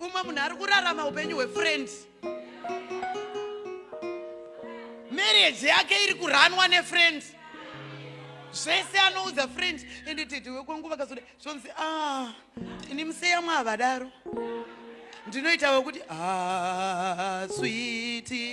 umwe munhu ari kurarama upenyu hwefriends marriage yake iri kuranwa nefriends zvese anoudza friends ende tete wekwenguva kazoda zvonzi a ah, ini museya mwaavadaro ndinoita wekuti a ah, switi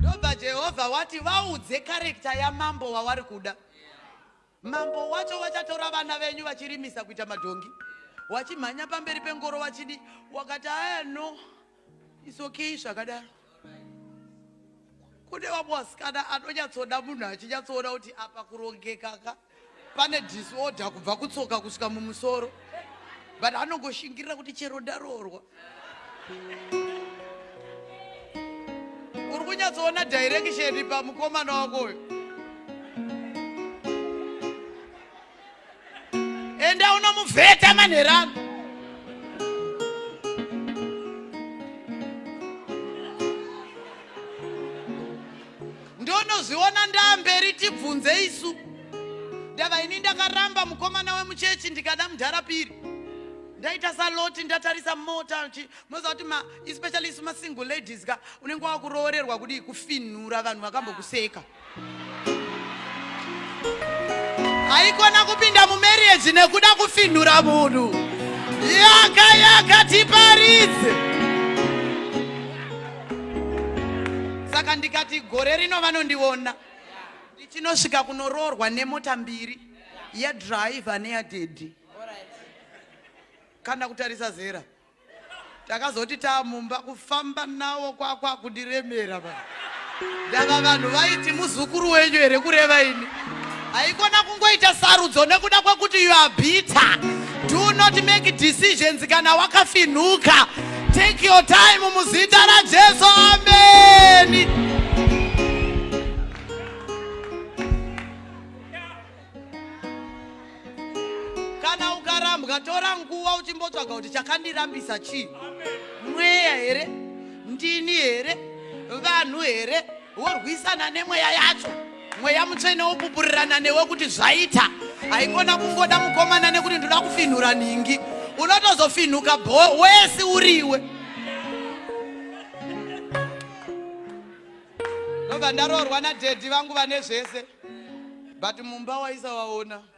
Ndobva Jehovha wati vaudze karekta yamambo wawari kuda. Mambo wacho wachatora vana venyu vachirimisa kuita madhongi. Wachimhanya pamberi pengoro wachidi wakati aya no it's okay zvakadaro. Kune vamwe vasikana anonyatsoda munhu achinyatsoona kuti apa kurongekaka. pane disorder kubva kutsoka kusvika mumusoro but anongoshingirira kuti chero ndaroorwa uri kunyatsoona direction pamukomana wako uyo enda unomuvheta manherano ndonozviona ndaamberi tibvunze isu ndava ini ndakaramba mukomana wemuchechi ndikada mudhara piri ndaita saloti ndatarisa mota moziva kuti especially isu masingle ladies ka unenge wakuroorerwa kudii kufinhura vanhu vakambokuseka haikona kupinda mumarriage nekuda kufinhura munhu yaka yaka tiparidze saka ndikati gore rino vanondiona ndichinosvika kunoroorwa nemota mbiri yadriver neyadhedhi kana kutarisa zera takazoti taamumba kufamba nawo kwakwa kundiremera ndava vanhu vaiti muzukuru wenyu here kureva ini haikona kungoita sarudzo nekuda kwekuti you are bitter do not make decisions kana wakafinhuka take your time muzita rajesu ameni kana ukarambwa tora nguva uchimbotsvaga kuti chakandirambisa chii mweya here ndini here vanhu here worwisana nemweya yacho mweya mutsvene wopupurirana newe kuti zvaita haikona kungoda mukomana nekuti ndoda kufinhura nhingi unotozofinhuka bho wesi uriwe ndobva ndaroorwa nadhedhi vangu vane zvese but mumba waisawaona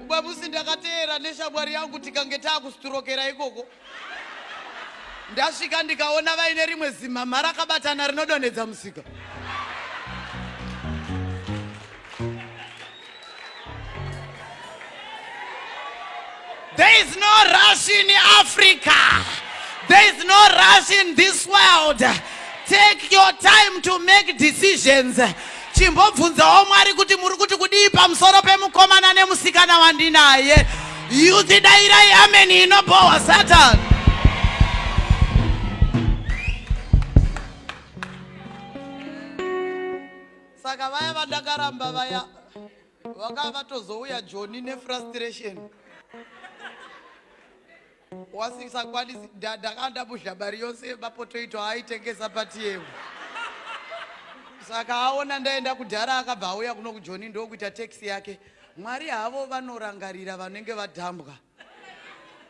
Ubwa musi ndakateera neshamwari yangu tikange taakusiturokera ikoko ndasvika ndikaona vaine rimwe zimhamha rakabatana rinodonhedza musika There is no rush in Africa. There is no rush in this world. Take your time to make decisions. Chimbobvunzawo Mwari kuti muri kuti kudii pamusoro pemukomana nemusikana wandinaye. Youth dairai amen inobowa Satan. Saka vaya vandakaramba vaya vanga vatozouya joni nefrustration wasisakwanisi ndakanda muzhabari yose mapotoito aaitengesa patiyemu saka aona ndaenda kudhara akabva auya kuno kujoni ndokuita taxi yake mwari havo vanorangarira vanenge vadhambwa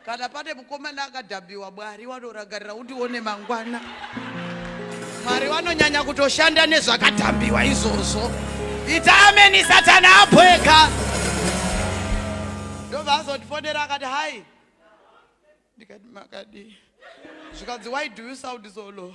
kana pane mukomana akadhabiwa mwari wanorangarira kuti one mangwana mwari vanonyanya kutoshanda nezvakadhambiwa izvozvo ita ameni satani abweka ndobva azondifonera akati hai ndikati makadii zvikanzi why do you sound so low